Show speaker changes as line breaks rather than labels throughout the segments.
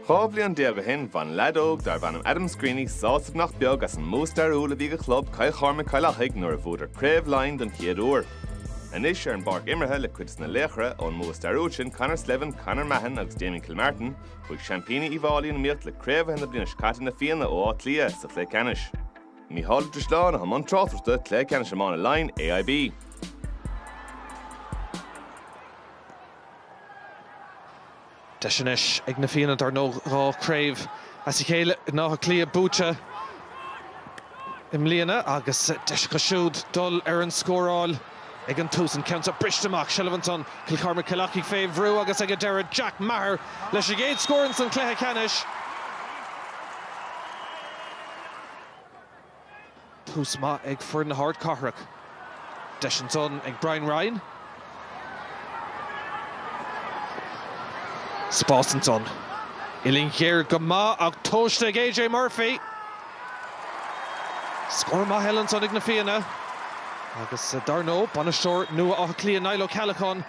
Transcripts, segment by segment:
Dhá bhliain déag ó shin, bhain leaid óg darb ainm Adam Screeney sásamh nach beag as an mbua stairiúil a bhí ag a chlub, Cill Chormaic-Cill Achaidh, nuair a bhuadar Craobh Laighean den chéad uair. Anois, ar an bpáirc imeartha, le cuid des na laochra ón mbua stairiúil sin, Conor Slevin, Conor Mahon agus Damien Kilmartin, chuaigh seaimpíní Uíbh Fháilí in iomaíocht le craobhaithe na bliana seo caite Na Fianna ó Áth Cliath sa chluiche ceannais. Mícheál Ó Drisleáin a chuaigh i mbun tráchtaireachta. Cluiche Ceannais Iomána Laighean AIB. Deis anois ag Na Fianna, dar ndóigh, dhá chraobh as a chéile in Áth Cliath buaite i mbliana agus deis acu siúd dul ar an scóráil ag an tús. An ceann seo briste amach, seilbh ansan, Cill Chormaic-Cill Achaidh fé bhrú agus ag an deireadh Jack Meagher leis an gcéad scór insan chluiche ceannais. Tús maith ag foireann na hardchathrach. Deis ansan ag Brian Ryan. Spás ansan. Uillinn ghéar go maith ach tomhaiste ag AJ Murphy. Scór maith eile ansan ag na Fianna. Agus eh, dar nó, bainisteoir nua Átha Cliath Niall Ó Ceallacháin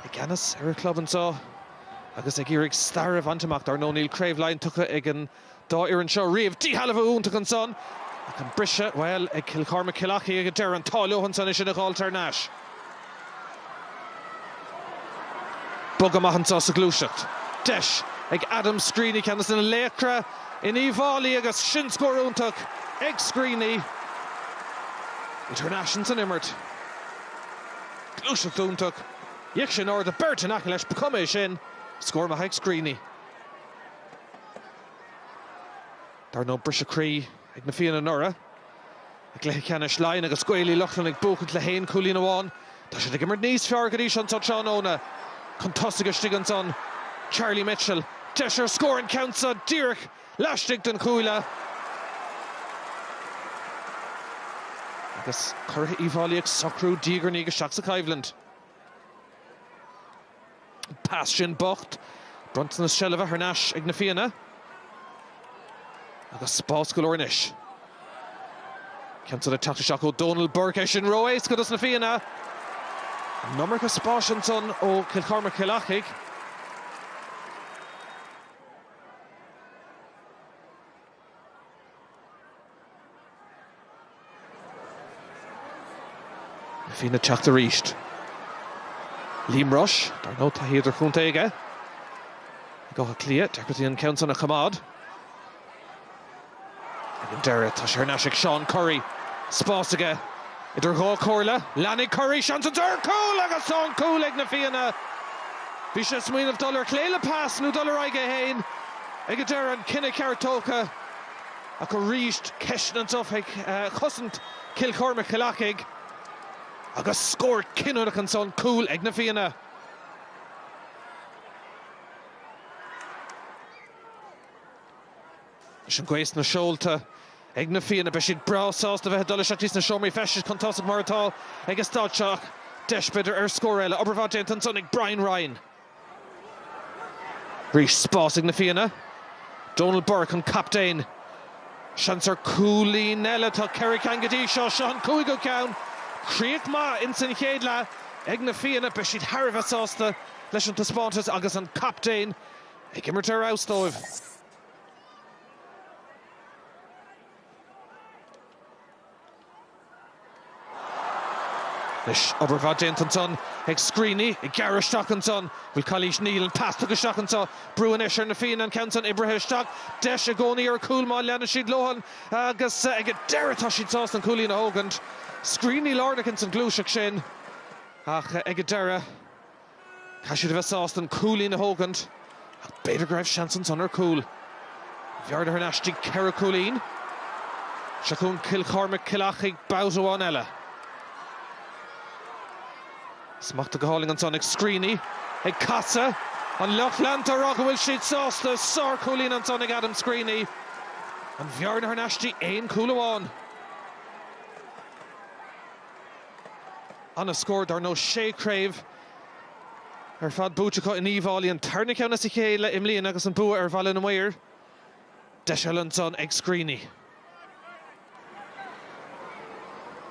i gceannas ar a chlub anseo agus ag iarraidh stair a bhaint amach. Dar nó, níl Craobh Laighean tugtha ag an dá fhoireann seo riamh. Díshealbhú iontach ansan ach an briseadh, bhuel, ag Cill Chormaic, Cill Achaidh ag an deireadh. An t-ádh leo ansan é sin a fháil thar n-ais. Bogadh maith anseo sa ghluaiseacht. Deis ag Adam Screeney, ceann des na laochra in Uíbh Fháilí agus sin scór iontach ag Screeney. Thar n-ais insan imirt. Gluaiseacht iontach. D'fhéach sé in airde, beirt in aice leis, ba chuma é sin. Scór maith ag Screeney. Dar ndóigh briseadh croí ag Na Fianna anuraidh i gcluiche ceannais Laighean agus Gaeil Uí Lochlainn ag buachaint le haon chúilín amháin. Tá siad ag imirt níos fearr go dtí seo anseo tráthnóna. Chun tosaigh istigh ansan Charlie Mitchell. Deis ar scór an ceann seo díreach laistigh den chuaille. Agus Curaithe Uíbh Fháilí ag socrú diaidh ar ndiaidh isteach sa choimhlint. Pas sin bocht. Bronntanas seilbhe thar n-ais ag na Fianna. Agus spás go leor anois. Ceann san ag teacht isteach ó Dónal Burke é sin ró-éasca dos na Fianna. An iomarca spáis ansan ó Cill Chormaic Chill Achaidh. Fianna ag teacht arís. Liam Rushe, dar ndóigh, taithí idirchontae aige. Ag Áth Cliath, deacrachtaí an ceann san a choimeád. Ag an deireadh, tá sé thar n-ais ag Seán Currie. Spás aige Idir dhá chomhairle, leanfaidh Currie seans ansan ar cúl agus tá an cúl ag na Fianna. Bhí sé ag smaoineamh dul ar chlé le pas nó dul ar aghaidh é féin ag an deireadh, an cinneadh ceart tógtha ach arís ceisteanna anso faoi chosaint Chill Chormaic-Chill Achaidh agus scór cinniúnach ansan, cúl ag na Fianna. Leis an gcóir sna seolta ag na Fianna, beidh siad breá sásta a bheith ag dul isteach sna seomraí feistis chun tosaigh mar atá ag an staid seo ach deis, b'fhéidir, ar scór eile. Obair mhaith déanta ansan ag Brian Ryan. Arís, spás ag na Fianna. Donal Burke, an captaen. Seans ar cúilín eile. Tá ceithre ceann go dtí seo. Seo an cúigiú ceann. Críoch maith ins an chéad leath ag na Fianna. Beidh siad thar a bheith sásta leis an taispeántas agus an captaen ag imirt ar fheabhas dóibh. Anois, obair mhaith déanta ansan, ag Screeney, ag gearradh isteach ansan, bhfuil calaois níl an pas isteach anseo, brú anois ar na Fianna an ceann san oibrithe isteach, deis i gcónaí ar cúl má leanann siad leo an, agus ag an deireadh tá siad sásta an cúilín a thógaint. Screeney lárnach ins an ghluaiseacht sin, ach ag an deireadh. Caithfidh siad a bheith sásta an cúilín a thógaint ach b'fhéidir go raibh seans ansan ar chúl. Bhearna thar n-ais dtí ceithre cúilín. Seo chugainn Cill Chormaic, Cill Achaidh babhta amháin eile. Smachtaithe go hálainn ansan ag Screeney, ag casadh. An lucht leanta á rá go bhfuil siad sásta. Sár chúilín ansan ag Adam Screeney. An bhearna thar n-ais dtí aon chúl amháin. Ana scór dar ndóigh, sé craobh ar fad buaite acu in Uíbh Fhailí. An tarna ceann as a chéile i mbliana agus an bua ar Bhaile na Maor. Deis eile ansan ag Screeney.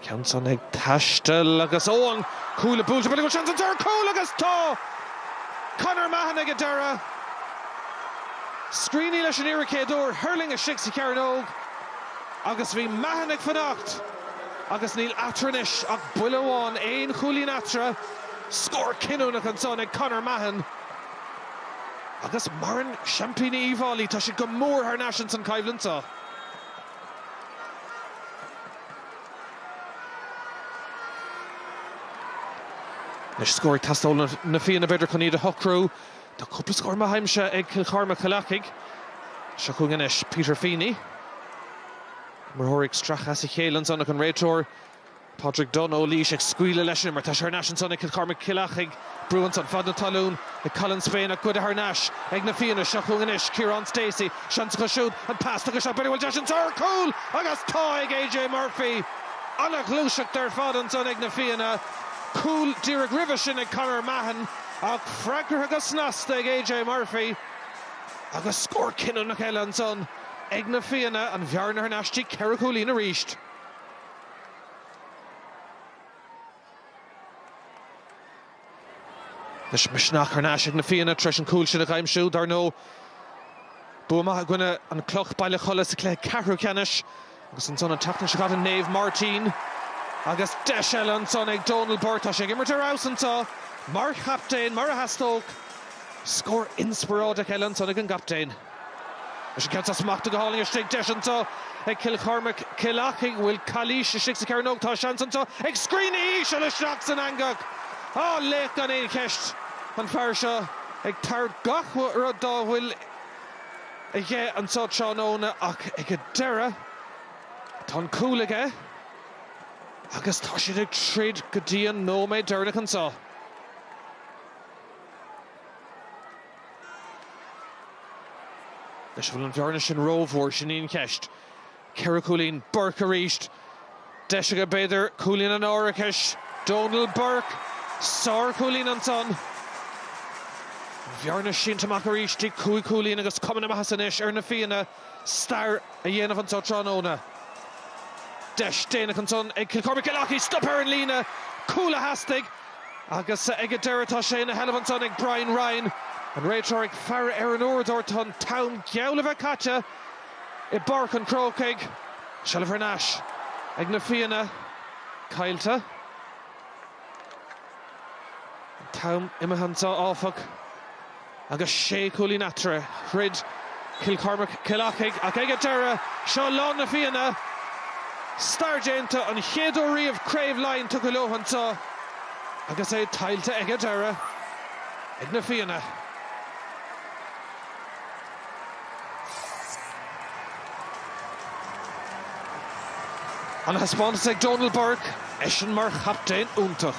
Ceann san ag taisteal agus ó an cuaille buailte, bhuel go seans ansan ar cúl agus tá Conor Mahon ag an deireadh. Screeney leis an iarracht chéad uair, thuirling sé istigh sa chearnóg agus bhí Mahon ag fanacht. Agus níl eatarthu anois ach buille amháin, aon chúilín eatarthu. Scór cinniúnach ansan ag Conor Mahon. Agus maireann seaimpíní Uíbh Fhailí, tá siad go mór thar n-ais ins an choimhlint seo. Anois scór ag teastáil ó Na Fianna b'fhéidir chun iad a shocrú. Tá cúpla scór maith aimsithe ag Cill Chormaic-Cill Achaidh. Seo chugainn anois Peter Feeney. Imreoirí ag stracadh as a chéile ansan ach an réiteoir, Pádraig Dunne ó Laois, ag scaoileadh leis mar tá sé thar n-ais ansan ag Cill Chormaic Cill Achaidh. Brú ansan fad na talún ag Colin Spain ach goideadh thar n-ais ag na Fianna. Seo chugainn anois Ciarán Stacey. Seans acu siúd, an pas tugtha. An bhfuil deis anso ar chúl agus tá ag AJ Murphy. Ana-ghluaiseacht ar fad ansan ag na Fianna. Cúl díreach roimhe sin ag Conor Mahon ach freagartha go snasta ag AJ Murphy agus scór cinniúnach eile ansan. ag na Fianna, an bhearna thar n-ais dtí ceithre chúilín arís. Anois misneach thar n-ais ag na Fianna tar éis an cúl sin a aimsiú. Dar ndóigh, bua maith i gcoinne an Cloch, Baile Cholla sa cluiche ceathrú ceannais. Agus ansan an tseachtain seo caite Naomh Máirtín agus deis eile ansan ag Dónal Burke. Tá sé ag imirt ar fheabhas anseo mar chaptaen, mar a theastódh. Scór inspioráideach eile ansan ag an gcaptaen. Anois an ceann seo smachtaithe go hálainn istigh, deis anseo ag Cill Chormaic, Cill Achaidh, an bhfuil cailís istigh sa chearnóg. Tá seans anseo ag Screeney íseal isteach san eangach. Á, laoch gan aon cheist an fear seo ag tabhairt gach rud dá bhfuil. aige anseo tráthnóna ach ag an deireadh tá an cúl aige agus tá siad ag troid go dtí an nóiméad deireanach anseo. Anois, an bhfuil an bhearna sin rómhór, sin í an cheist. Ceithre chúilín. Burke arís. Deis aige b'fhéidir cúilín an árachais. Dónal Burke. Sárchúilín ansan. An bhearna sínte amach arís dtí cúig chúilín agus cuma na maitheasa anois ar na Fianna stair a dhéanamh anso tráthnóna. Deis déanach ansan ag Cill Chormaic Cill Achaidh. Stop ar an líne. Cúl a theastaigh. Agus ag an deireadh tá sé ina sheilbh ansan ag Brian Ryan. An réiteoir ag faire ar an uaireadóir. Tá an t-am geall le bheith caite. i bPáirc an Chrócaigh. Seilbh thar n-ais ag Na Fianna. Tuillte. An t-am imithe anseo, áfach, agus sé chúilín eatarthu. Throid Cill Chormaic, Cill Achaidh, ach ag an deireadh, seo lá na bhFianna. Stair déanta. An chéad uair riamh Craobh Laighean tugtha leo anseo agus é tuillte ag an deireadh ag Na Fianna. An-thaispeántas ag Dónal Burke, eisean mar chaptaen iontach.